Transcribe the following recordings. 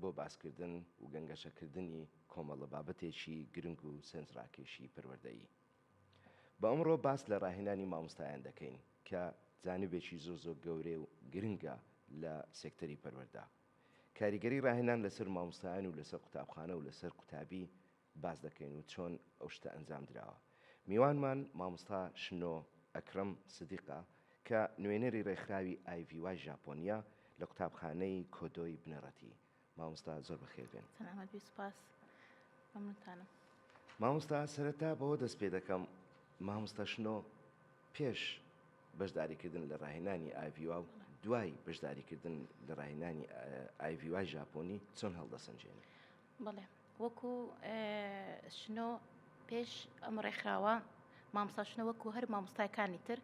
بۆ باسکردن و گەنگەشەکردنی کۆمەڵە بابەتێکی گرنگ و سەنجڕاکێشی پەروەردەیی. بە ئەمڕۆ باس لە ڕاهێنانی مامۆستایان دەکەین کە جانبێکی زۆر زۆر گەورەی و گرنگە لە سێکتەری پەروەردە. کاریگەری ڕاهێنان لەسەر مامۆستایان و لەسەر قوتابخانە و لەسەر قوتابی باس دەکەین و چۆن ئەو شتە ئەنجام دراوە. میوانمان مامۆستا شنۆ ئەکرەم سدیقە کە نوێنەری رێکخراوی ئای ڤی وای ژاپۆنیە لە قوتابخانەی کۆدۆی بنەڕەتی. مامۆستا زۆر بەخێر بێن. سەلامەت بی سوپاس مەمنونتانم. مامۆستا سەرەتا بەوە دەست پێ دەکەم مامۆستا شنۆ پێش بەشداری کردن لە راهێنانی ئای ڤی وا و دوای بەشداری کردن لە راهێنانی ئای ڤی وای ژاپۆنی چۆن هەڵدەسەنجێنی؟ بەڵێ وەکو شنۆ پێش ئەم ڕێکخراوە مامۆستا شنۆ وەکو هەر مامۆستایەکانی تر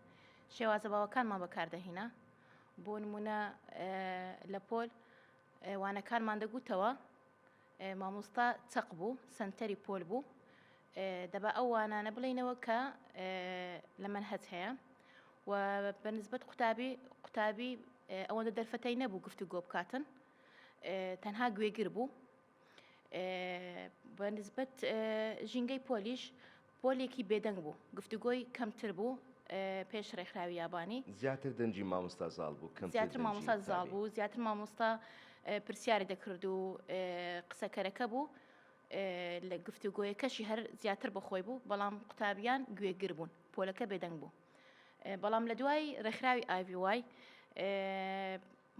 شێوازە باوەکانمان بەکاردەهینا بۆ نمونە لە پۆل وانەکانمان دەگوتەوە مامۆستا چەق بوو سنتەری پۆل بوو دەبا ئەو وانانە بڵینەوە کە لە من هەت هەیە و بەنسبەت قوتابی قوتابی ئەوەندە دەرفەتەی نەبوو گفتو گۆ بکاتن تەنها گوێگر بوو. بە نسبەت ژینگەی پۆلیش، پۆلێکی بێدەنگ بوو. گفتوگۆی کەمتر بوو پێش رێکخراوی یابانی. زیاتر دەنگی مامۆستا زاڵ بوو، کەمتر دەنگی تامی. زیاتر مامۆستا زاڵ بوو، زیاتر مامۆستا پرسیاری دەکرد و قسەکەرەکە بوو. لە گفتوگۆیەکەشی هەر زیاتر بە خۆی بوو، بەڵام قوتابیان گوێگر بوون. پۆلەکە بێدەنگ بوو. بەڵام لە دوای رێکخراوی ئای ڤی وای،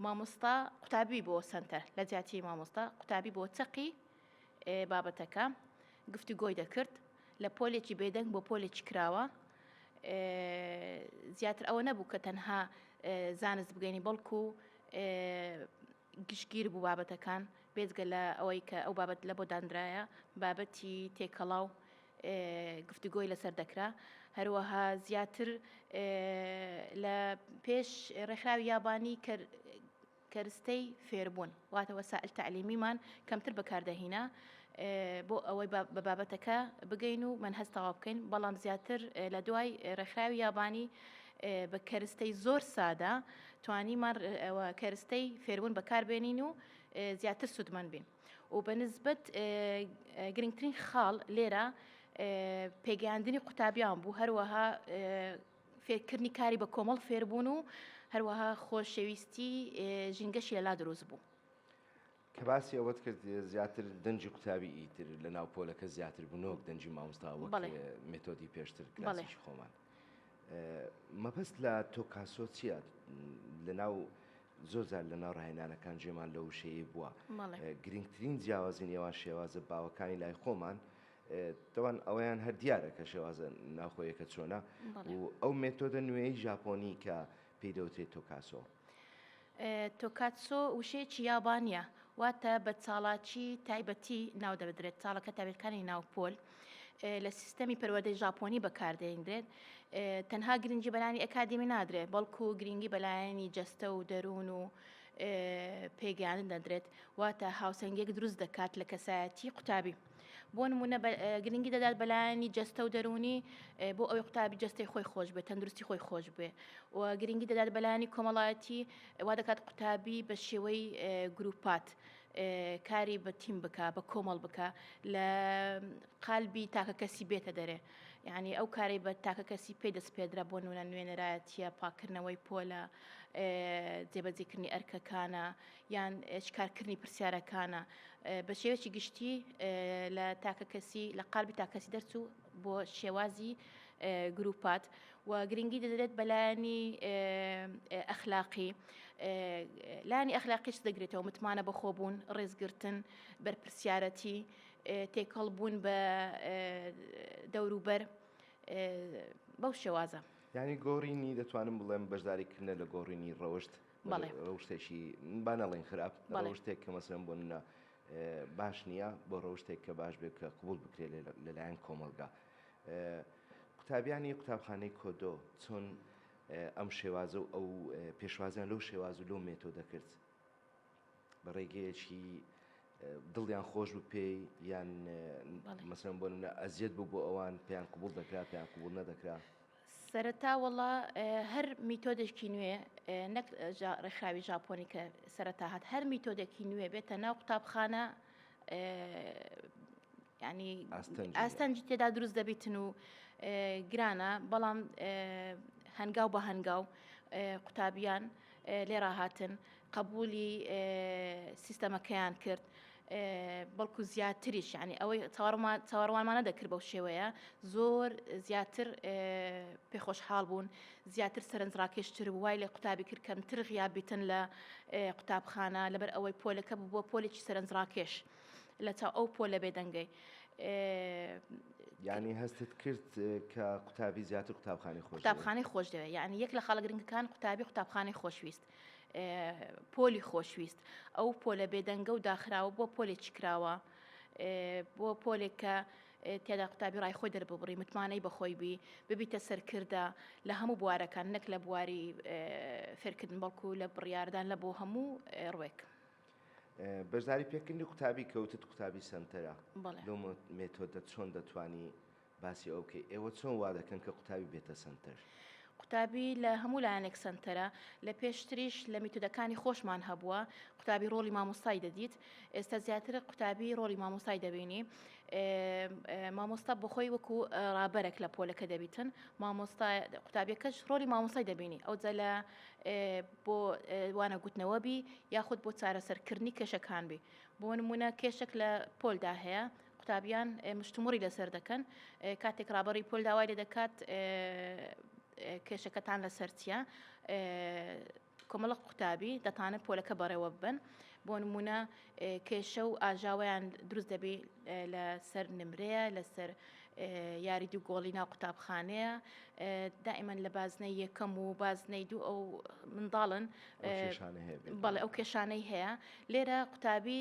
مامۆستا قوتابی بۆ سەنتەر لە جیاتی مامۆستا قوتابی بۆ چەقی بابەتەکە گفتوگۆی دەکرد لە پۆلێکی بێدەنگ بۆ پۆلێکی کراوە زیاتر ئەوە نەبوو کە تەنها زانست بگەنی بەڵکو گشتگیر بوو بابەتەکان بێزگە لە ئەوەی کە ئەو بابەت لە بۆ دانراە بابەتی تێکەڵاو گفتوگۆی لەسەر دەکرا، هەروەها زیاتر لە پێش ڕێکخراوی یابانی کە کەرستەی فێربوون واتە وەسائل تعلیمیمان کەمتر بەکاردەهینا بۆ ئەوەی بە بابەتەکە بگەین و من هەست تەواو بکەین بەڵام زیاتر لە دوای ڕێکخراوی یابانی بە کەرستەی زۆر سادە توانیمان کەرستەی فێربوون بەکاربێنین و زیاتر سوودمەند بین. و بە نسبەت گرنگترین خاڵ لێرە پێگەیاندنی قوتابیان بوو هەروەها فێرکردنی کاری بە کۆمەڵ فێربوون و هەروەها خۆشەویستی ژینگەشی لەلا دروست بوو. کە باسی ئەوەت کرد زیاتر دەنجی قوتابی ئیتر لە ناو پۆلەکە زیاتر بنۆک دەنجی مامۆستا وەک مێتۆدی پێشتر کلاسیش خۆمان. مەبەست لە تۆکاسۆ چییە لە ناو زۆر جار لە ناو ڕاهێنانەکان جێمان لەو وشەیەی بووە. گرنگترین جیاوازی نێوان شێوازە باوەکانی لای خۆمان، تەوان ئەوەیان هەر دیارە کە شێوازە ناوخۆیەکە چۆنە و ئەو مێتۆدە نوێی ژاپۆنی کە پێی دەوترێت تۆکاسۆ. تۆکاتسۆ وشەیەکی یابانییە، واتە بە چاڵاکی تایبەتی ناو دەبدرێت، چاڵەکە تابێتکانی ناو پۆل. لە سیستەمی پەروەردەی ژاپۆنی بەکاردێنرێت تەنها گرنگی بەلانی ئەکادمی نادرێت بەڵکو گرنگی بەلایەنی جەستە و دەروون و پێگەیان دەدرێت واتە هاوسەنگێک دروست دەکات لە کەسایەتی قوتابی بۆ نمونە گرنگی دەدات بەلایانی جەستە و دەرونی بۆ ئەوی قوتابی جستی خۆی خۆش بێت تەندروستی خۆی خۆش بێ و گرنگی دەدات بەلایانی کۆمەڵایەتی وا دەکات قوتابی بە شێوەی گروپات کاری بە تیم بکە بە کۆمەڵ بکە لە قالبی تاکە کەسی بێتە دەرێ یعنی ئەو کارەی بە تاکە کەسی پێ دەست پێدرا بۆ نونە نوێنەرایەتە پاکردنەوەی پۆلە جێبەجیکردنی ئەرکەکانە یان شکارکردنی پرسیارەکانە بە شێوەی گشتی لە تاکە کەسی لە قالبی تاکەسی دەرچوو بۆ شێوازی گروپات و گرنگی دەدرێت بە لایەنی ئەخلاقی لانی ئەخلاقیش دەگرێتەوە متمانە بەخۆبوون ڕێزگرتن بەرپسیارەتی تێکەڵ بوون بە دەوروبەر بەو شێوازە یعنی گۆڕینی دەتوانم بڵێم بەشداریکردە لە گۆڕینی ڕەوشت ڕەوشتێکی با نەڵێن خراپ ڕەوشتێک کە مەسلم بۆ منە باش نییە بۆ ڕەوشتێک کە باش بێت کە قوبول بکرێت لەلایەن کۆمەلگا قوتابیانی قوتابخانەی کۆدۆ چۆن ئەم شێوازە و ئەو پێشوازیان لەو شێواز و لەو مێتۆدە کرد؟ بە ڕێگەیەکی دڵیان خۆش بوو پێی یان مەسەن بۆ منە ئەزیەت بوو بۆ ئەوان پێیان قوبول دەکرا پێیان قوبول نەدەکرا سەرەتا وڵا هەر میتۆدێکی نوێ نەک ڕێکخراوی ژاپۆنی کە سەرەتا هات هەر میتۆدێکی نوێ بێتە ناو قوتابخانە یعنی ئاستەنجی تێدا دروست دەبیتن و گرانە بەڵام هەنگاو بە هەنگاو قوتابیان لێرا هاتن قبولی سیستەمەکەیان کرد. بەڵکو زیاتریش ینی ئەوەی چاوەڕوانمانە دەکرد بەو شێوەیە زۆر زیاتر پێخۆشحاڵ بوون زیاتر سەرنجڕاکێشتر وای لە قوتابی کرد کەمتر غیابیتن لە قوتابخانە لەبەر ئەوەی پۆلەکە بووە پۆلێکی سەرنجڕاکێش. لە چاو ئەو پۆلە بێدەنگەی. یانی هەستت کرد کە قوتابی زیاتر قوتابخانی خۆش قوتابخانی خۆش دەوێت یعنی یەک لە خەڵک گرنگەکان قوتابی قوتابخانی خۆشویست پۆلی خۆشویست ئەو پۆلە بێدەنگە و داخراوە بۆ پۆلێکی کراوە بۆ پۆلێک کە تێدا قوتابی ڕای خۆی دەرببڕی متمانەی بەخۆی بی ببیتە سەرکردە لە هەموو بوارەکان نەک لە بواری فێرکردن بەڵکو لە بڕاردان لە بۆ هەموو ڕوێک. بەشداری پێکردنی قوتابی کەوتت قوتابی سەنتەرە لەو مێتۆدە چۆن دەتوانی باسی ئەو بکەیت ئێوە چۆن وا دەکەن کە قوتابی بێتە سەنتەر قوتابی لە هەموو لایەنێک سەنتەرە لە پێشتریش لە میتودەکانی خۆشمان هەبووە قوتابی ڕۆڵی مامۆستای دەدیت ئێستا زیاتر قوتابی ڕۆڵی مامۆستای دەبینی مامۆستا بخۆی وەکو ڕابەرێک لە پۆلەکە دەبیتن مامۆستا قوتابیەکەش ڕۆلی مامۆسای دەبینی ئەو جە لە بۆ وانە گوتنەوە بی یاخود بۆ چارەسەر کردنی کێشەکان بی بۆ نمونە کێشک لە پۆلدا هەیە قوتابیان مشتموڕی لەسەر دەکەن کاتێک ڕابەری پۆل داوای لێ دەکات کێشەکەتان لەسەر چیە کۆمەڵە قوتابی دەتانە پۆلەکە بەڕێوە ببن بۆ نمونە کێشە و ئاژاویان دروست دەبی لەسەر نمرەیە لەسەر یاری دوو گۆڵی ناو قوتابخانەیە دائیمەن لە بازنەی یەکەم و بازنەی دوو ئەو منداڵن بەڵێ ئەو کێشانەی هەیە لێرە قوتابی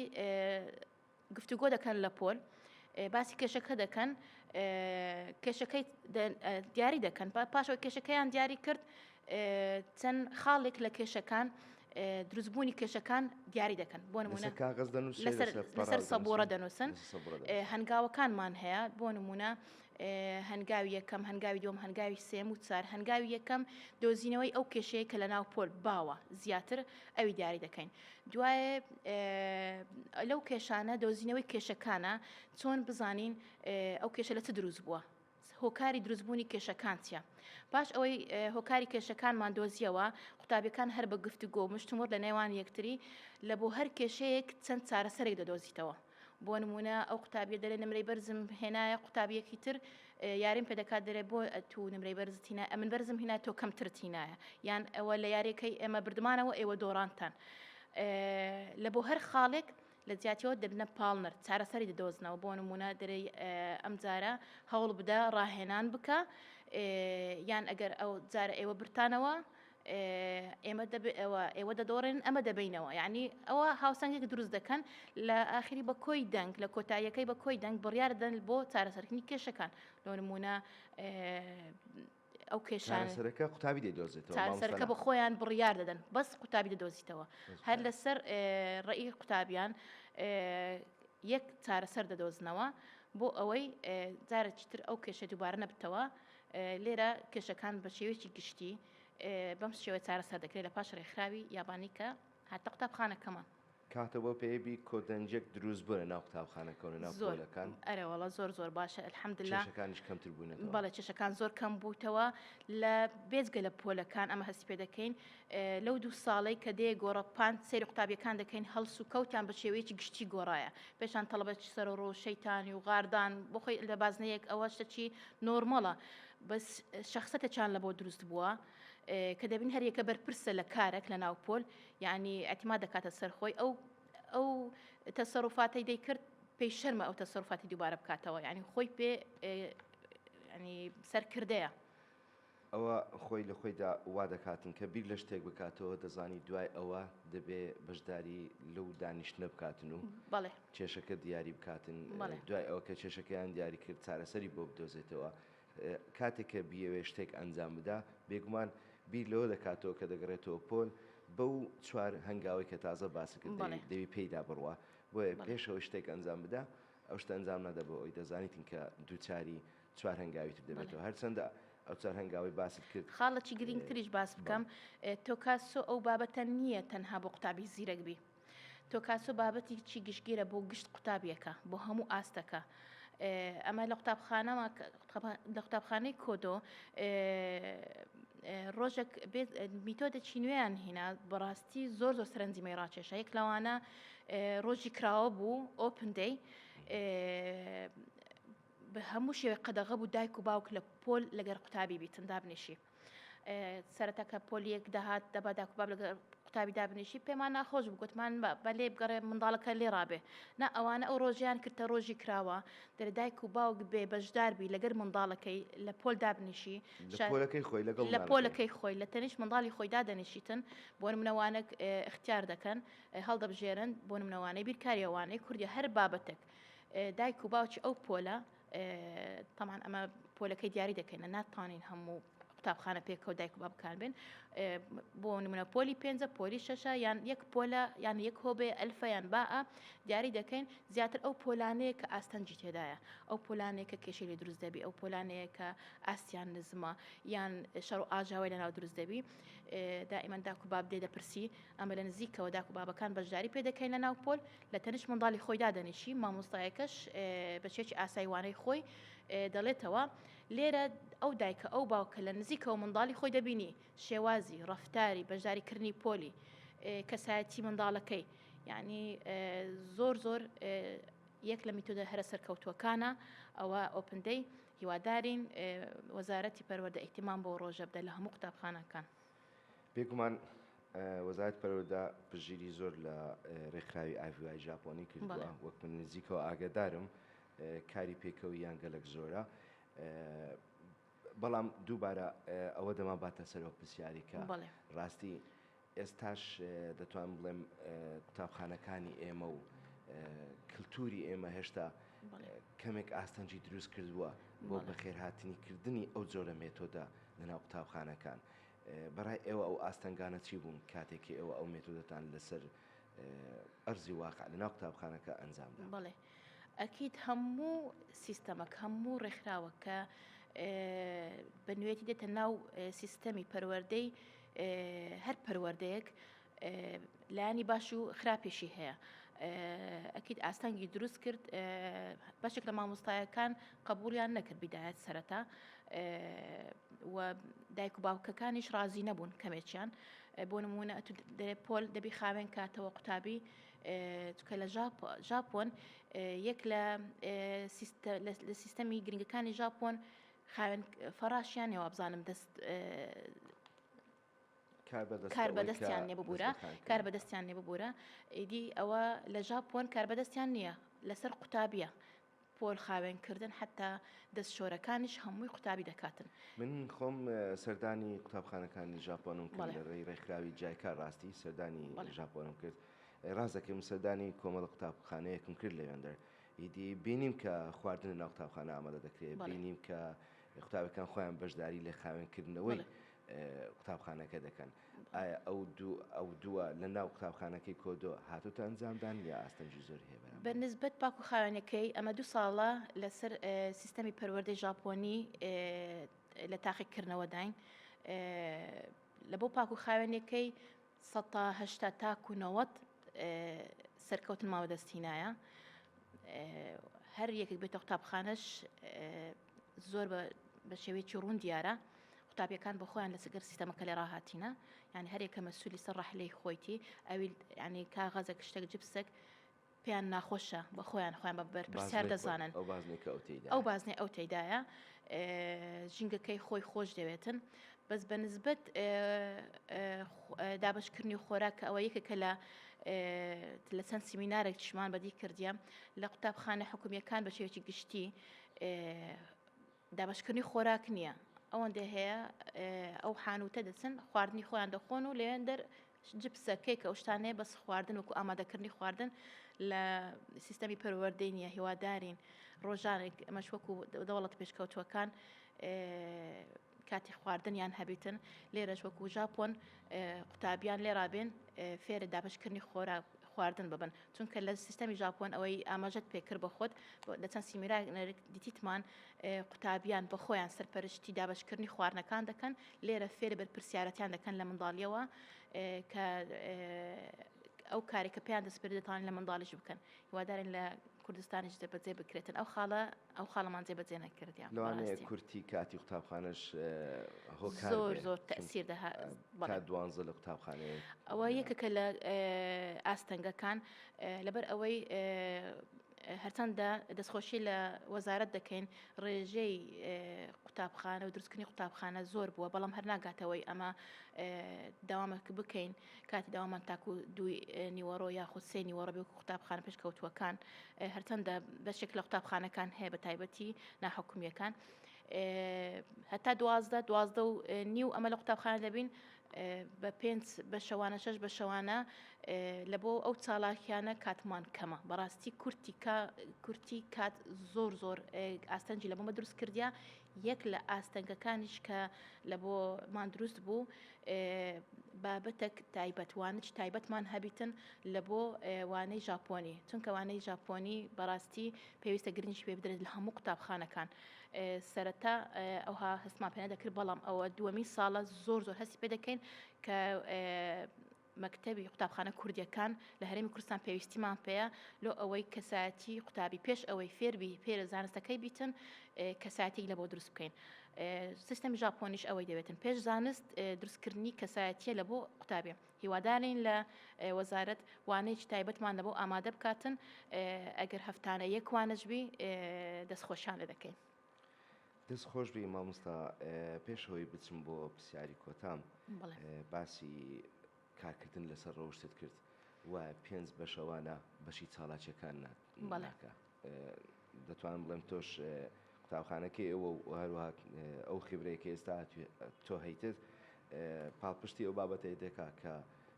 گفتوگۆ دەکەن لە پۆل باسی کێشەکە دەکەن کێشەکەی دیاری دەکەن پاشەوە کێشەکەیان دیاری کرد چەند خاڵێک لە کێشەکان دروستبوونی کێشەکان دیاری دەکەن بۆ نمونە کاغز لەسەر سەبۆڕە دەنووسن هەنگاوەکانمان هەیە بۆ نمونە هەنگاوی یەکەم هەنگاوی دوم هەنگاوی سێم و چار هەنگاوی یەکەم دۆزینەوەی ئەو کێشەیە کە لە ناو پۆل باوە زیاتر ئەوی دیاری دەکەین دوایە لەو کێشانە دۆزینەوەی کێشەکانە چۆن بزانین ئەو کێشە لە چ دروست بووە هۆکاری دروستبوونی کێشەکان چیە؟ پاش ئەوەی هۆکاری کێشەکانمان دۆزیەوە، قوتابیەکان هەر بە گفتوگۆ و مشتومڕ لە نێوان یەکتری لە بۆ هەر کێشەیەک چەند چارەسەرێک دەدۆزیتەوە. بۆ نموونە ئەو قوتابیە دەلێ نمرەی بەرزم هێنایە قوتابیەکی تر یاریم پێ دەکات دەلێ بۆ تو نمرەی بەرزت هینایە ئەمن بەرزم هینایە تۆ کەمترت هینایە یان ئەوە لە یاریەکەی ئێمە بردمانەوە ئێوە دۆڕانتان لە بۆ هەر خاڵێک لە جیاتیەوە دەبنە پاڵنەر چارەسەری دەدۆزنەوە بۆ نموونە دەرێی ئەم جارە هەوڵ بدە ڕاهێنان بکە یان ئەگەر ئەو جارە ئێوە برتانەوە ئێمە ئەوە ئێوە دەدۆڕێن ئەمە دەبینەوە یعنی ئەوە هاوسەنگێک دروست دەکەن لە ئاخری بە کۆی دەنگ لە کۆتاییەکەی بە کۆی دەنگ بڕیاردەن بۆ چارەسەرکردنی کێشەکان لۆ نمونە ئەو کێشانە چارەسەرەکە قوتابی دەیدۆزێتەوە مامۆستا چارەسەرەکە نا. بۆ خۆیان بڕیار دەدەن بەس قوتابی دەدۆزیتەوە بەس هەر قوتابی. لەسەر ئێ، ڕێی قوتابیان ئێ، یەک چارەسەر دەدۆزنەوە بۆ ئەوەی ئێ، جارێکی تر ئەو کێشە دووبارە نەبتەوە ئێ، لێرە کێشەکان بە شێوەیەکی گشتی ئێ، بەم شێوەیە چارەسەر دەکرێت لە پاش ڕێکخراوی یابانی کە. هەتا قوتابخانەکەمان. کاتە بۆ پێیبی کۆدەنجێک دروست بوە لە ناو قوتابخانە کەونە ناو پۆلەکان. زۆر ئەرێ وەڵا زۆر زۆر باشە الحمدللە. کێشەکانیش کەمتر بونەتەوە. بەڵێ کێشەکان زۆر کەم بوتەوە لە بێجگە لە پۆلەکان ئەمە هەست پێ دەکەین لەو دوو ساڵەی کە دێ گۆڕە پان سەیری قوتابیەکان دەکەین هەڵس و کەوتان بە شێوەیەکی گشتی گۆڕایە پێشان تەڵەبە چ سەر و ڕۆ شەیتانی و غاردان بۆ خۆی لە بازنەیەک ئەوە شتەکی نۆرمەڵە بەس شەخسەتە چان لە بۆ دروست بوە. کە دەبین هەر یەکە بەرپرسە لە کارەک لە ناو پۆل یعنی ئەتیما دەکاتە سەر خۆی ئەو ئەو تەسەڕوفاتەی دەیکرد پێی شەرمە ئەو تەسەرفاتی دووبارە بکاتەوە ینی خۆی پێ ینی سەرکردەیە ئەوە خۆی لە خۆیدا وا دەکاتن کە بیر لە شتێک بکاتەوە دەزانی دوای ئەوە دەبێ بەشداری لەو دانیشتە بکاتن و کێشەکە دیاری بکاتن دوای ئەوە کە کێشەکەیان دیاری کرد چارەسەری بۆ بدۆزێتەوە کاتێک کە بیەوێت شتێک ئەنجام بدا، بێگومان بیر لەوە دەکاتەوە کە دەگەڕێتەوە پۆل بەو چوار هەنگاوەی کە تازە باست کرد دەوی دەوی پێیدا بڕوا. بۆیە پێش ئەوەی شتێک ئەنجام بدا، ئەو شتە ئەنجام نادا بۆ ئەوەی دەزانیتن کە دووچاری چوار هەنگاوی تر دەبێتەوە. هەرچەندە ئەو چوار هەنگاوەی باست کرد. خاڵێکی گرینگتریش باست بکەم. تۆ کاسۆ ئەو بابەتە نییە تەنها بۆ قوتابی زیرەک بی. تۆکاسۆ بابەتێکی گشتگیرە بۆ گشت قوتابیەکە بۆ هەموو ئاستەکە ئەمە لە قوتابخانەوە لە قوتابخانەی کۆدۆ ڕۆژێک میتۆدە چینوێیان هینا بەڕاستی زۆر زۆر سەرنجیمەی ڕاکێشە یەک لەوانە ڕۆژی کراوە بوو ئۆپندەی بە هەموو شێوەی قەدەغە بوو دایک و باوک لە پۆل لەگەر قوتابی بیتن دابنیشی سەرەتا کە پۆلیەک دەهات دەبا داکو باب لەگەڵ قوتابی دابنیشی پێمان ناخۆش بوو گوتمان بە لێ بگەڕێ منداڵەکە لێ ڕابێ نا ئەوانە ئەو ڕۆژیان کردتە ڕۆژی کراوە دەرێ دایک و باوک بێ بەشداربی لەگەر منداڵەکەی لە پۆل دابنیشی لەکەی خۆی لەگەڵ لە پۆلەکەی خۆی لە تەنیش منداڵی خۆی دادەنیشیتن بۆ منەوانە اختیار دەکەن هەڵدەبژێرن بۆ منەوانەی بیرکاریەوانەی کوردی هەر بابەتێک دایک و باوکی ئەو پۆلە تەمان ئەمە پۆلەکەی دیاری دەکەینە ناتوانین هەموو قوتابخانە پێکەوە دایک بە بکار بێن بۆ نمونە پۆلی پێنجە پۆلی شەشە یان یەک پۆلە یان یەک هۆبێ ئەلفیان باء دیاری دەکەین زیاتر ئەو پۆلانەیە کە ئاستەنجی تێدایە ئەو پۆلانێک کە کێشی لە دروست دەبی ئەو پۆلانەیە کە ئاستیان نزمە یان شەڕ و ئاژاوای لەناو دروست دەبی دائیمەن داکو باب دێ دەپرسی ئەمە لە نزیکەوە داکو بابەکان بەشداری پێ دەکەین لە ناو پۆل لە تەنیشت منداڵی خۆی دادەنیشی، مامۆستایەکەش بە چێکی ئاسای وانەی خۆی دەڵێتەوە، لێرە ئەو دایکە ئەو باوکە لە نزیکەوە منداڵی خۆی دەبینی، شێوازی، ڕەفتاری، بەشداریکردنی پۆلی، کەسایەتی منداڵەکەی، یانی زۆر زۆر یەک لە میتۆدە هەرە سەرکەوتووەکانە، ئەوە ئۆپن دەی، هیوادارین وەزارەتی پەروەردە ئیهتیمام بەو ڕۆژە بدە لە هەموو قوتابخانەکان. بێگومان وەزارەتی پەروەردە پشتگیری زۆر لە ڕێکخراوی ئاڤیوای ژاپۆنی کردووە وەک من نزیکەوە ئاگادارم کاری پێکەوە یان گەلک زۆرە بەڵام دووبارە ئەوە دەما باتە سەرەوە پرسیارێکە ڕاستی ئێستاش دەتوان بڵێم قوتابخانەکانی ئێمە و کللتوری ئێمە هێشتا کەمێک ئاستەنجی دروست کردووە بۆ بەخێرهاتنی کردنی ئەو جۆرە مێتۆدا لەناو قوتابخانەکان بەڕای ئێوە ئەو ئاستەنگانە چی بوون کاتێک کە ئێوە ئەو مێتۆدەتان لەسەر ئەرزی واقع لەناو قوتابخانەکە ئەنجامدا؟ بەڵێ ئەکید هەموو سیستەمەک هەموو ڕێکخراوەک کە بە نوێتی دێتە ناو سیستەمی پەروەردەی هەر پەروەردەیەک لایەنی باش و خراپیشی هەیە ئەکیید ئاستەنگی دروست کرد بەشێک لە مامۆستایەکان قبولیان نەکرد بدایەت سەرەتا دایک و باوکەکانیش ڕازی نەبوون کەمێکیان بۆ نمونە دەێ پۆل دەبی خاوێن کاتەوە قوتابی چکە لە ژاپۆن یەک لە لە سیستەمی گرنگەکانی ژاپۆن خاوێن فەڕاشیان نێوابزانم دەست کاربەدەستیان لێ ببورە کاربەدەستیان لێ ببورە ئیدی ئەوە لە ژاپۆن کاربەدەستیان نییە لەسەر قوتابیە پۆل خاوێنکردن حتا دەست شۆرەکانیش هەمووی قوتابی دەکاتن من خۆم سەردانی قوتابخانەکانی ژاپۆنم کرد لە ڕێی ڕێکخراوی جایکار ڕاستی سەردانی ژاپۆنم کرد ڕاستەکەم سەردانی کۆمەڵە قوتابخانەیەکم کرد لەوێندەر ئیدی بینیم کە خواردن ناو قوتابخانە ئامادە دەکرێت بینیم کە قوتابەکان خۆیان بەشداری لە خاوێنکردنەوەی قوتابخانەکە دەکەن ئایا ئەو دوو ئەو دووە لە ناو قوتابخانەکەی کۆدۆ هاتوتە ئەنجامدان یا ئاستەنگی زۆر هەیە بەرامبەر؟ بە نسبەت پاکو خاوێنەکەی ئەمە دوو ساڵە لەسەر سیستەمی پەروەردەی ژاپۆنی لە تاقیکردنەوەداین لە بۆ پاکو خاوێنەکەی، سەد تا هەشتا تاکو نەوەد سەرکەوتن ماوە دەستینایە هەر یەکێک بێتە قوتابخانەش زۆر بە شێوەیەکی ڕوون دیارە قوتابیەکان بە خۆیان لە سەگەر سیستەمەکە لێ ڕاهاتینە یان هەرێکە مەسولی سەر ڕحلەی خۆیتی ئەوی ینی کاغەزە شتێک جپسێک پێیان ناخۆشە بە خۆیان خۆیان بە بەرپرسیار دەزانن ئەو بازنەی کە ئەو تێیدا ئەو بازنەی ئەو تێدایە ژینگەکەی خۆی خۆش دەوێتن بەس بە نسبت دابشکردنی خۆراک کە ئەوە یەکێکە لە لە چەند سیمینارێک چشمان بەدی کردیە لە قوتابخانە حکومیەکان بە شێوەیەکی گشتی دابەشکردنی خۆراک نییە، ئەوەندە هەیە ئەو حانووتە دەچن خواردنی خۆیان دەخۆن و لەوێن دەر جپسە کەیکە ئەو شتانەیە بەس خواردن وکو ئامادەکردنی خواردن لە سیستەمی پەروەردەی نییە هیوادارین ڕۆژانێک ئەمەش وەکو دەوڵەت پێشکەوتوەکان کاتی خواردنیان هەبیتن لێرەش وەکو ژاپۆن قوتابیان لێرابێن فێرە دابشکردنی خۆراک خواردن ببن چونکە لە سیستەمی ژاپۆن ئەوەی ئاماژەت پێکرد بە خۆت لە چەند سیمینارێک دیتیتمان قوتابیان بە خۆیان سەرپەرشتی دابشکردنی خواردنەکان دەکەن لێرە فێر بەرپرسیارەتیان دەکەن لە منداڵیەوە کە ئەو کارێکە پێیان دەسپێردێتان لە منداڵیش بکەن هیوادارن لە کوردستانیش دەبەجێ بکرێتن ئەو خاڵە ئەو خاڵەمان جێبەجێ نەکردیان لەوانەیە کورتی کاتی قوتابخانەش هۆکار زۆر زۆر تەسیر دەها بەڵا دوانزە لە قوتابخانەیە ئەوە یەکەکە لە ئاستەنگەکان لەبەر ئەوەی هەرچەندە دەستخۆشی لە وەزارت دەکەین ڕێژەی قوتابخانە و دروستکردنی قوتابخانە زۆر بووە بەڵام هەر ناگاتەوەی ئەمە داوامەک بکەین کاتی داوامان تاکو دووی نیوەڕۆ یاخود سێ نیوەڕۆ بێ وەکو قوتابخانە پێشکەوتووەکان هەرچەندە بەشێک لە قوتابخانەکان هەیە بە تایبەتی ناحکومیەکان هەتا دوازدە دوازدە و نیو ئەمە لە قوتابخانە دەبین بە پێنج بە شەوانە شەش بە شەوانە لە بۆ ئەو چالاکیانە کاتمان کەمە بەڕاستی کورتی کورتی کات زۆر زۆر ئاستەنجی لە بۆمە دروست کردیا یەک لە ئاستەنگەکانیش کە لە بۆ مان دروست بوو بابەتەک تایبەت وانج تایبەتمان هەبیتن لە بۆ وانەی ژاپۆنی چونکە وانەی ژاپۆنی بەڕاستی پێویستە گرنگش پێ بدرێت لە هەموو قوتابخانەکان سەرەتا ئەوها هەستمان پێ دەکرد بەڵام ئەوە دووەمی ساڵە زۆر زۆر هەستی پێ دەکەین کە مەکتەبی قوتابخانە کوردیەکان لە هەرێمی کوردستان پێویستیمان پێیە لۆ ئەوەی کەسایەتی قوتابی پێش ئەوەی فێربی فێرە زانستەکەی بیتن کەسایەتی لە بۆ دروست بکەین سیستەمی ژاپۆنیش ئەوەی دەوێتن پێش زانست دروستکردنی کەسایەتیە لە بۆ قوتابێ هیوادارین لە وەزارەت وانەیەکی تایبەتمان لە بۆ ئامادە بکاتن ئەگەر هەفتانە یەکوانەجبی دەستخۆشیان لە دەکەین. دەست خۆش بی ماموستا پێش هەوەی بچم بۆ پرسیاری کۆتام باسی کارکردن لەسەر ڕەوشتت کرد و پێنج بەشەوانە بەشی چاڵاکیەکان ناکە دەتوانم بڵێم تۆش قوتابخانەکەی ئەوە و هەروە ئەو خبرەیەکە ئێستا تۆ هەیتت پاڵپشتی ئەو بابەتەی دەکا کە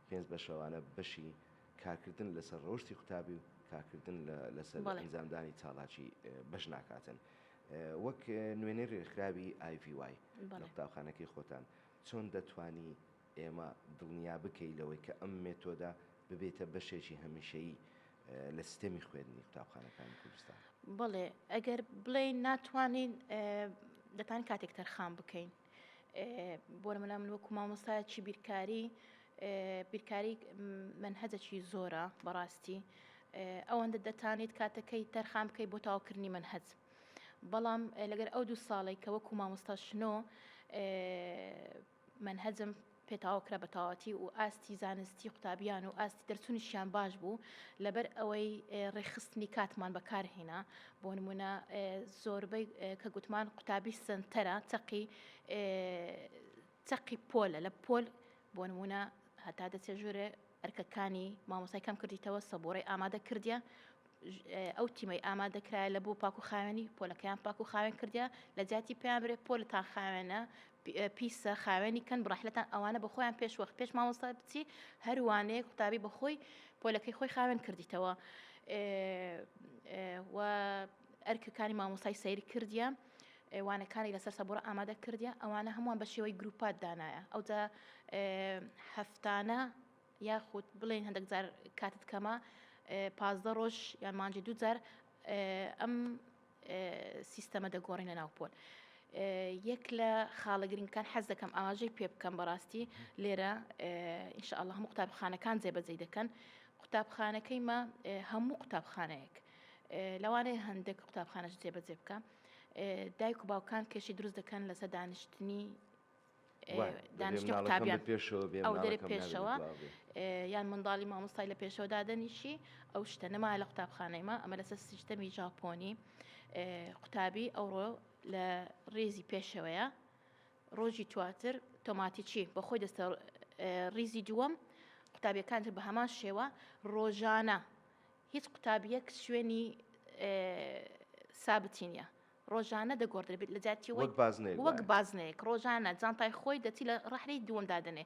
پێنج بەشەوانە بەشی کارکردن لەسەر ڕەوشتی قوتابی و کارکردن لەسەر ئەنجامدانی چالاکی بەش ناکاتن. وەک نوێنەی ڕێکخراوی ئایڤیوای لە قوتابخانەکەی خۆتان چۆن دەتوانی ئێمە دڵنیا بکەی لەوەی کە ئەم مێتۆدە ببێتە بەشێکی هەمیشەیی لە سیستەمی خوێندنی قوتابخانەکانی کوردستان؟ بەڵێ ئەگەر بڵێین ناتوانین دەتان کاتێک تەرخان بکەین. بۆ نمونە من وەکو مامۆستایەکی بیرکاری بیرکاری منهەجەکی زۆرە بەڕاستی ئەوەندە دەتانیت کاتەکەی تەرخان بکەیت بۆ تاوکردنی منهەج بەڵام لەگەر ئەو دوو ساڵێک کە وەکو مامۆستا شنۆ منهەجم پێتاو کرا بە تەواوەتی و ئاستی زانستی قوتابیان و ئاستی دەرچونیشیان باش بوو لەبەر ئەوەی ڕێکخستنی کاتمان بەکار هینا بۆ نمونە زۆربەی کە گوتمان قوتابی سەنتەرە چەقی چەقی پۆلە لە پۆل بۆ نمونە هەتا دەچێ ژورێ ئەرکەکانی مامۆسای کەم کردیتەوە سەبۆرەی ئامادە کردیە ئەو تیمەی ئامادە کرایە لە بۆ پاک و خاوێنی پۆلەکەیان پاک و خاوێن کردیا لە جیاتی پێیان برێ پۆلتان خاوێنە پیسە خاوێنی کەن بڕحلەتان ئەوانە بە خۆیان پێش وەخت پێش مامۆستا بچی هەروانەیە قوتابی بە خۆی پۆلەکەی خۆی خاوێن کردیتەوە و ئەرکەکانی مامۆستای سەیری کردیە وانەکانی لەسەر سەبڕ ئامادە کردیە ئەوانە هەمووان بە شێوەی گروپات دانایە ئەوجا هەفتانە یاخود بڵێین هەندێک جار کاتت کەمە پازدە ڕۆژ یان مانجی دوو جار ئەم سیستەمە دەگۆڕین لە ناوپۆل. یەک لە خاڵە گرنگەکان حەز دەکەم ئاماژەی پێ بکەم بەڕاستی لێرە ئینشاءله هەموو قوتابخانەکان جێبەجێ دەکەن قوتابخانەکەی مە هەموو قوتابخانەیەک لەوانەیە هەندێک قوتابخانەش جێبەجێ بکە دایک و باوکان کێشی دروست دەکەن لەسەر دانیشتنی دانشتە قوتابیان پێشەوە بێ ئەو دەرێ پێشەوە یان منداڵی مامۆستای لە پێشەوە دادەنیشی ئەو شتە نەما لە قوتابخانەیمە ئەمە لەسەر سیستەمی ژاپۆنی قوتابی ئەوڕۆ لە ڕێزی پێشەوەیە ڕۆژی تواتر تۆماتیچی بە خۆی دەستە ڕیزی دووەم قوتابیەکان بە هەمان شێوە ڕۆژانە هیچ قوتابیەک شوێنی سابتینە ڕۆژانە دەگۆڕدرێت لە جاتی وەک بازنەیەک وەک بازنەیەک ڕۆژانە جانتای خۆی دەچی لە ڕحلەی دووەم دادنێ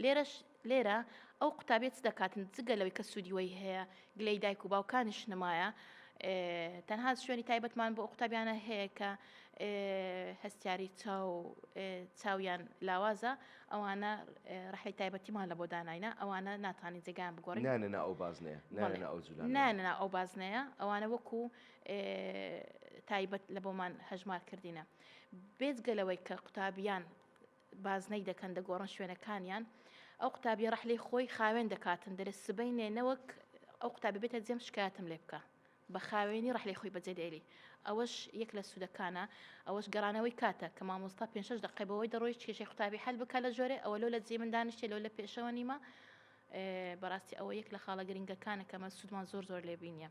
لێرەش لێرە ئەو قوتابێت دەکاتن جگە لەوەی کە سوودیوەی هەیە گلەی دایک و باوکانیش نمایە تەنها شوێنی تایبەتمان بۆ قوتابیانە هەیە کە هەستیاری چاو چاویان لاوازە ئەوانە ڕحی تایبەتیمان لە بۆ داناینا ئەوانە ناتانی جێگان بگۆڕین نانە ئەو بازنەیە نانە ئەو جولان نانە ئەو بازنەیە ئەوانە وەکو تایبەت لە بۆمان هەژمار کردینە بێجگە لەوەی کە قوتابیان بازنەی دەکەن دەگۆڕن شوێنەکانیان ئەو قوتابی ڕحلی خۆی خاوێن دەکاتن دەرس سبینێ نەوەک ئەو قوتابی بێتە جێم شکایەتم لێ بکە بە خاوێنی ڕحلی خۆی بەجێ دێری ئەوەش یەک لە سوودەکانە ئەوەش گەڕانەوەی کاتە کە مامۆستا پێ شش دقی بەوەی دەڕۆیشت کێشی قوتابی هەل بکە لە ژۆرێ ئەوە لۆ لە جێ من دانیشتێ لۆ لە پێشەوە نیمە بەڕاستی ئەوە یەک لە خاڵە گرنگەکانە کە مە سوودمان زۆر زۆر لێبینە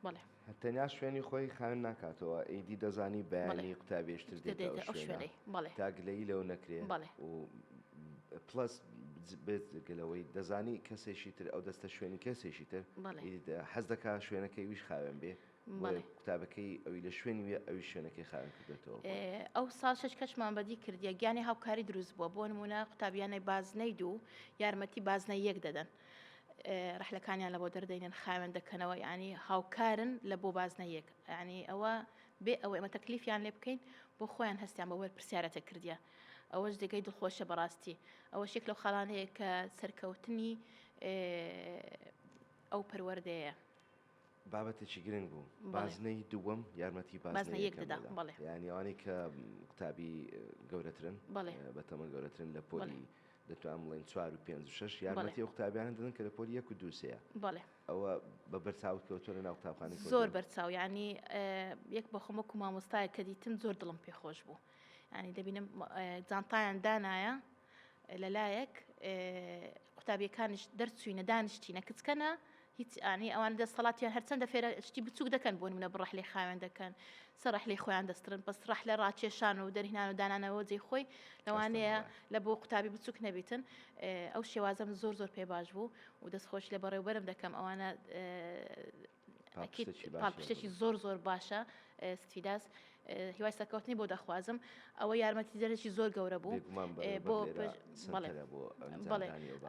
بەڵێ تەنیا شوێنی خۆی خاوێن ناکاتەوە ئیدی دەزانی بەیانی قوتابێشتر دێتەوە شوێنەی بەڵێ تاگلەی لەو نەکرێ بەڵێ و پلس بێت گەلەوەی دەزانی کەسێکی تر ئەو دەستە شوێنی کەسێکی تر حەز دەکا شوێنەکەی ویش خاوێن بێ قوتابەکەی ئەوی لە شوێنی وێ ئەوی شوێنەکەی خاوێن کردێتەوە ئەو ساڵشش کەشمان بەدی کردیە گیانی هاوکاری دروست بووە بۆ نمونە قوتابیانەی بازنەی دوو یارمەتی بازنە یەک دەدەن ڕەحلەکانیان لەبۆ دەردەینن خاوێن دەکەنەوە یعنی هاوکارن لە بۆ بازنە یەک ینی ئەوە بێ ئەوە ئەمە تەکلیفیان لێ بکەین بۆ خۆیان هەستیان بە وەر پرسیارەتە کردیا ئەوەش دەگەی دڵخۆشە بەڕاستی ئەوە شێک لەو خاڵانەیە کە سەرکەوتنی ئەو پەروەردەیە بابەتێکی گرنگ بوو بازنەی دووەم یارمەتی بازنە یەک دەدا یانی ئەوانەی کە قوتابی گەورەترن بە تەمە گەورەترن لە پۆلی دەتوان بڵێن چوار و پێنج و شش یارمەتی ئەو قوتابیانە دەدن کە لە پۆلی یەک و دووسەیە ئەوە بە بەرچاوت کەوتۆ لە ناو قوتابخانی زۆر بەرچاو ینی یەک بە خۆمە و مامۆستای کە دیتم زۆر دڵم پێ خۆش بوو ینی دەبینم جانتایان دانایە لەلایەک قوتابیەکانش دەرچوینە دانیشتینە کچکەنە هیچ ئانی ئەوان دەستەڵاتیان هەرچەندە فێرە شتی بچوک دەکەن بۆ نمونە بڕەح لێ خاوێن دەکەن سەرح لێ خۆیان دەسترن بەس ڕەح لە ڕاکێشان و دەرهنان و دانانەوە جێ خۆی لەوانەیە لە بۆ قوتابی بچوک نەبیتن ئەو شێوازم زۆر زۆر پێ باش بوو و دەستخۆش لە بەڕێوبەرم دەکەم ئەوانە پاڵپشتێکی زۆر زۆر باشە ستیداس هیوای سەکەوتنی بۆ دەخوازم ئەوە یارمەتی جەرەی زۆر گەورە بوو بۆ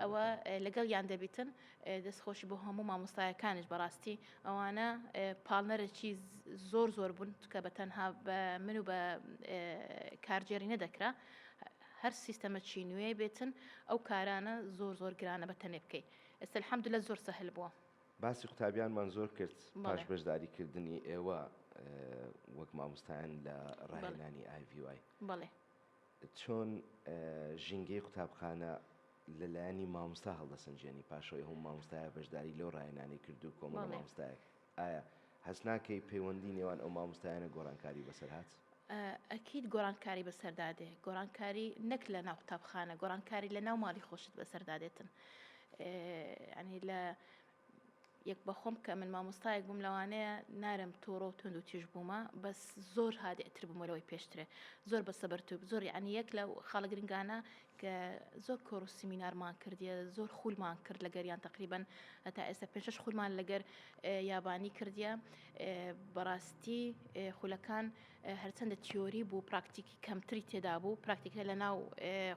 ئەوە لەگەڵ یان دەبیتن دەست خۆشی بۆ هەموو مامۆستایەکانیش بەڕاستی ئەوانە پاڵنەرەکی زۆر زۆر بوون کە بە تەنها بە من و بە کارجێری نەدەکرا هەر سیستەمە چی نوێ بێتن ئەو کارانە زۆر زۆر گرانە بە تەنێ بکەیت ئێستا الحمد لە زۆر سەهل بووە باسی قوتابیانمان زۆر کرد پاش بەشداریکردنی ئێوە وەک مامۆستایان لە ڕاهێنانی ئای ڤی وای بەڵێ چۆن ژینگەی قوتابخانە لە لایەنی ماموستا هەڵدەسنجێنی پاشەوەی هەوو ماموستایە بەشداری لەو ڕاهێنانەی کردو کۆمەڵە ماموستایەک ئایا هەست ناکەی پەیوەندی نێوان ئەو ماموستایانە گۆڕانکاری بەسەر هات؟ ئەکید گۆڕانکاری بەسەردا دێ گۆڕانکاری نەک لە ناو قوتابخانە گۆڕانکاری لە ناو ماڵی خۆشت بەسەردا دێتن یانی لە یەک بەخۆم کە من مامۆستایەک بووم لەوانەیە نارم تۆڕۆ و تونند و تیژ بوومە بەس زۆر هادئتر بمەرەوەی پێشترێ زۆر بە سەبەرتوب زۆر عنی یەک لە خاڵە گرنگانە کە زۆر کۆر و سیمینارمان کردیە زۆر خولمان کرد لە گەریان تقریبن هەتا ئێستا پێشش خولمان لەگەر یابانی کردیە بەڕاستی خولەکان هەرچەندە تیۆری بوو پراکتیک کەمتری تێدا بوو پراکتیکە لە ناو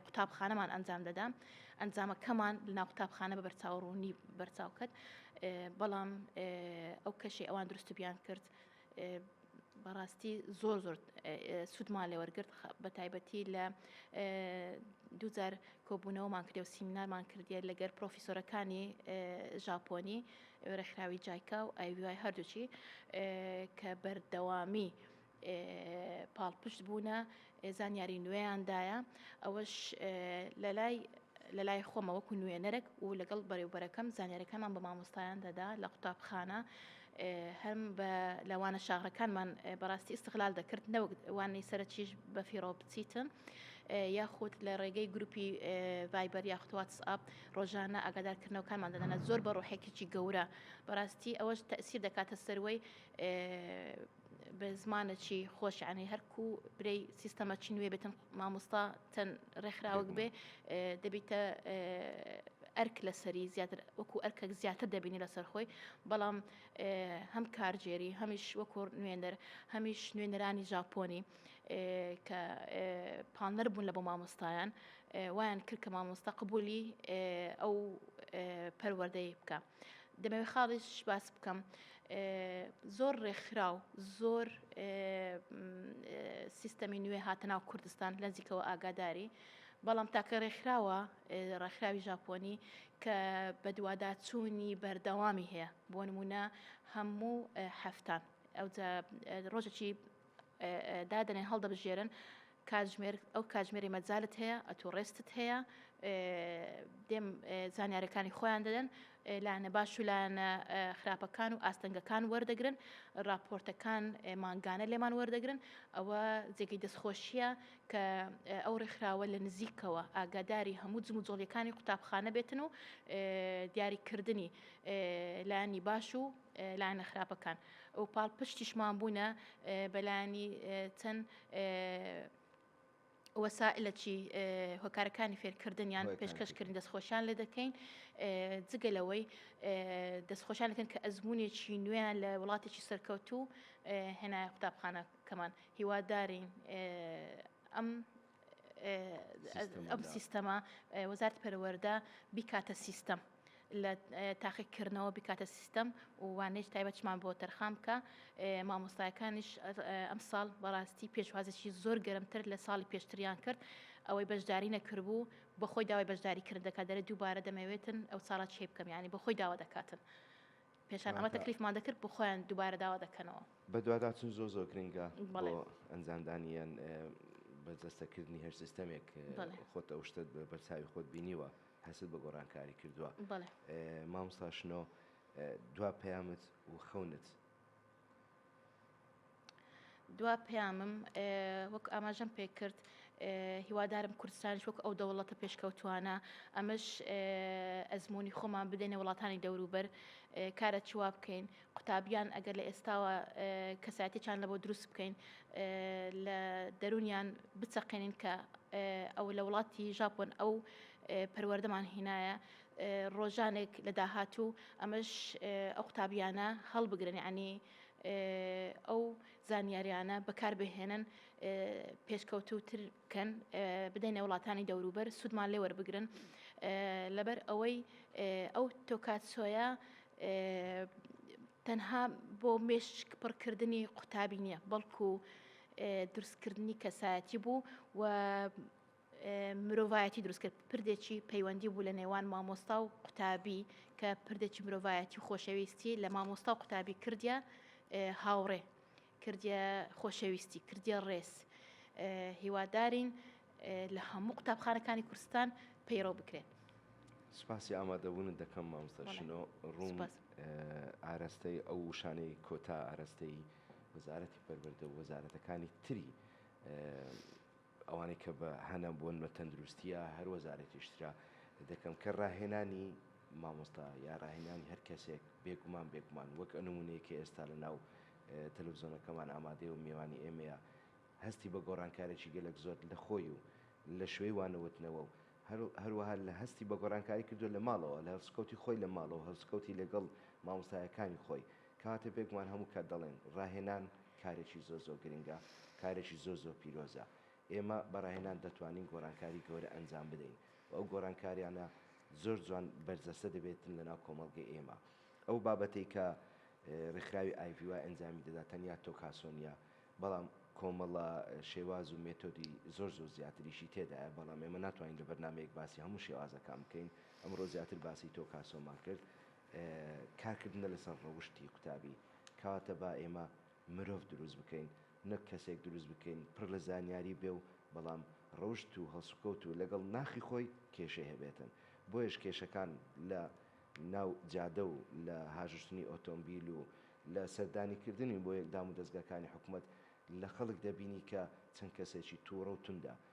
قوتابخانەمان ئەنجام دەدا ئەنجامەکەمان لە ناو قوتابخانە بە بەرچاو ڕوونی بەرچاو کرد بەڵام ئەو کەشی ئەوان دروست بیان کرد بەڕاستی زۆر زۆر سوودمان لێ وەرگرت بە تایبەتی لە دوجار کۆبوونەوەمان کرد و سیمینارمان کردیە لەگەر پرۆفیسۆرەکانی ژاپۆنی ڕێکخراوی جایکا و ئایوای هەردووچی کە بەردەوامی پاڵپشت بوونە زانیاری نوێیان دایە ئەوەش لەلای لەلای خۆمە وەکو نوێنەرەک و لەگەڵ بەرێوبەرەکەم زانیارەکانمان بە مامۆستایان دەدا لە قوتابخانە هەم بە لەوانە شاغرەکانمان بەڕاستی ئستغلال دەکرد نەوەک وانەی سەرچیش بە فیڕۆ بچیتن یاخود لە ڕێگەی گروپی ڤایبەر یاخواتس ئاپ ڕۆژانە ئاگادارکردنەوەکانمان دەدەنە زۆر بە ڕۆحێکیی گەورە بەڕاستی ئەوەش تەسیر دەکاتە سەروەی بە زمانە چی خۆش یعنی هەرکو برەی سیستەمە چی نوێ بێتن مامۆستا تەن ڕێکخراوەک بێ دەبیتە ئەرک لەسەری زیاتر وەکو ئەرکەک زیاتر دەبینی لەسەر خۆی بەڵام هەم کارجێری هەمیش وەکو نوێنەر هەمیش نوێنەرانی ژاپۆنی کە پانەر بوون لە بۆ مامۆستایان وایان کرد کە مامۆستا قبولی ئەو پەروەردەی بکە. دەمەوێت خاڵیش باس بکەم زۆر ڕێکخراو زۆر سیستەمی نوێ هاتەناو کوردستان لەنزیکەوە ئاگاداری بەڵام تاکە ڕێکخراوە ڕێکخراوی ژاپۆنی کە بەدوواداچوونی بەردەوامی هەیە بۆ نمونە هەموو هەفتان ئەو ڕۆژێکی دادەنێن هەڵدەبژێرن کاتژمێر ئەو کاتژمێری مەجالت هەیە ئەتو ڕێستت هەیە دێم زانیارەکانی خۆیان دەدەن لاەنە باش و لاەنە خراپەکان و ئاستەنگەکان وەردەگرن راپۆرتەکان مانگانە لێمان وەردەگرن ئەوە جێگەی دەستخۆشیە کە ئەو ڕێکخراوە لە نزیکەوە ئاگاداری هەموو جم و جۆڵیەکانی قوتابخانە بێتن و دیاریکردنی لایانی باش و لایەنە خراپەکان و پاڵپشتیشمان بوونە بەلایانی چەند وەسائلەکی هۆکارەکانی فێرکردن یان پێشکەشکردن دەستخۆشیان لێ دەکەین جگە لەوەی دەستخۆشیان دەکەن کە ئەزمونێکی نوێیان لە وڵاتێکی سەرکەوتوو هێنایە قوتابخانەکەمان هیوادارین ئەم ئەم سیستەمە وەزارت پەروەەردە بیکاتە سیستەم. لە تاقیکردنەوە بکاتە سیستەم و وانێش تایبەتمان بۆ تەرخان بکە مامۆستایەکانیش ئەم ساڵ بەڕاستی پێشوازێکی زۆر گەرمتر لە ساڵی پێشتریان کرد ئەوەی بەشداری نەکردبوو بە خۆی داوای بەشداری کرد دەکات دەرە دووبارە دەمەوێتن ئەو ساڵە چێ بکەم ینی بە خۆی داوا دەکاتن. پێشان ئەمە تەکلیفمان دەکرد بۆ خۆیان دووبارە داوا دەکەنەوە. بەدواداچون زۆر زۆر گرنگە بۆ ئەنجامدانی یان بەرجەستە کردنی هەر سیستەمێک خۆت ئەو شتەت بە بەرچاوی خۆت بینیوە هەستت بە گۆڕانکاری کردووە مامۆستا شنۆ دوا پەیامت و خەونت دوا پەیامم وەک ئاماژەم پێکرد هیوادارم کوردستانش وەک ئەو دەوڵەتە پێشکەوتوانە ئەمەش ئەزمموی خۆمان بدەینە وڵاتانی دەوروبەر کارە چوا بکەین قوتابیان ئەگەر لە ئێستاوە کەساتێکیان لە بۆ دروست بکەین لە دەرونیان بچەقێنین کە ئەو لە وڵاتی ژاپۆن ئەو پەروەردەمان هینایە ڕۆژانێک لە داهاتوو ئەمەش ئەو قوتابیانە هەڵبگرن عنی ئەو زانیاریانە بەکاربهێنن پێشکەوتوتر بکەن بدەینە وڵاتانی دەوروبەر سوودمان لێ وەربگرن لەبەر ئەوەی ئەو تۆکات سۆیە تەنها بۆ مێشک پڕکردنی قوتابی نییە بەڵکو دروستکردنی کەسایەتی بوو و مرۆڤایەتی دروست کرد پردێکی پەیوەندی بوو لە نێوان مامۆستا و قوتابی کە پردێکی مرۆڤایەتی و خۆشەویستی لە مامۆستا و قوتابی کردیا هاوڕێ کردە خۆشەویستی کردە ڕێز هیوادارین لە هەموو قوتابخانەکانی کوردستان پەیڕۆ بکرێت سپاسی ئامادەبوونت دەکەم مامستەشنۆ ڕوون ئارەستەی ئەو وشانەی کۆتا ئارەستەی وەزارەتی پەروەردە و وەزارەتەکانی تری ئەوانەی کە بە هەنە بوون بە تەندروستییە هەر وەزارەتیش ترا دەکەم کە ڕاهێنانی مامۆستا یا ڕاهێنانی هەر کەسێک بێگومان بێگومان وەک ئە نمونەیە کە ئێستا لە ناو تەلەڤزۆنەکەمان ئامادەیە و مێوانی ئێمەیە هەستی بە گۆڕانکارێکی گەلەک زۆر لە خۆی و لە شوێی وانەوتنەوە و هەروەها لە هەستی بە گۆڕانکاری کردو لە ماڵەوە لە هەڵسوکەوتی خۆی لە ماڵەوە هەڵسوکەوتی لەگەڵ مامۆستایەکانی خۆی کەواتە بێگومان هەموو کات دەڵێن ڕاهێنان کارێکی زۆر زۆر گرنگە، کارێکی زۆر زۆر پیرۆزە. ئێمە بە ڕاهێنان دەتوانین گۆڕانکاری گەورە ئەنجام بدەین و ئەو گۆڕانکاریانە زۆر جوان بەرجەستە دەبێتن لەناو کۆمەڵگەی ئێمە. ئەو بابەتەی کە ڕێکخراوی IVY ئەنجامی دەدات تەنیا تۆکاسۆ نییە، بەڵام کۆمەڵە شێواز و مێتۆدی زۆر زۆر زیاتریشی تێدایە، بەڵام ئێمە ناتوانین لە بەرنامەیەک باسی هەموو شێوازەکان بکەین، ئەمڕۆ زیاتر باسی تۆکاسۆمان کرد، کارکردنە لەسەر ڕەوشتی قوتابی، کەواتە با ئێمە مرۆڤ دروست بکەین نەک کەسێک دروست بکەین پڕ لە زانیاری بێ و بەڵام ڕەوشت و هەڵسوکەوت و لەگەڵ ناخی خۆی کێشەی هەبێتن بۆیەش کێشەکان لە ناو جادە و لە هاژشتنی ئۆتۆمبیل و لە سەردانی کردنی بۆ یەک دامودەزگاکانی حکومەت لە خەڵک دەبینی کە چەند کەسێکی توڕە و توندە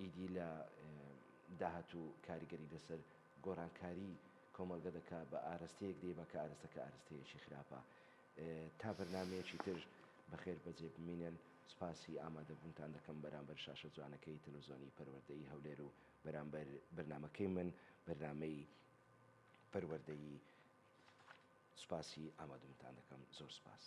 ئیدی لە داهاتوو کاریگەری لەسەر گۆرانکاری کۆمەڵگە دەکا بە ئارەستەیەک دەیبا کە ئارەستەکە ئارەستەیەکی خراپە تا بەرنامەیەکی تر بەخێر بەجێ بمینن سپاسی ئامادەبوونتان دەکەم بەرامبەر شاشە جوانەکەی تەلەوزۆنی پەروەردەیی هەولێر و بەرامبەر بەرنامەکەی من بەرنامەی پەروەردەیی سپاسی ئامادوونتان دەکەم زۆر سپاس.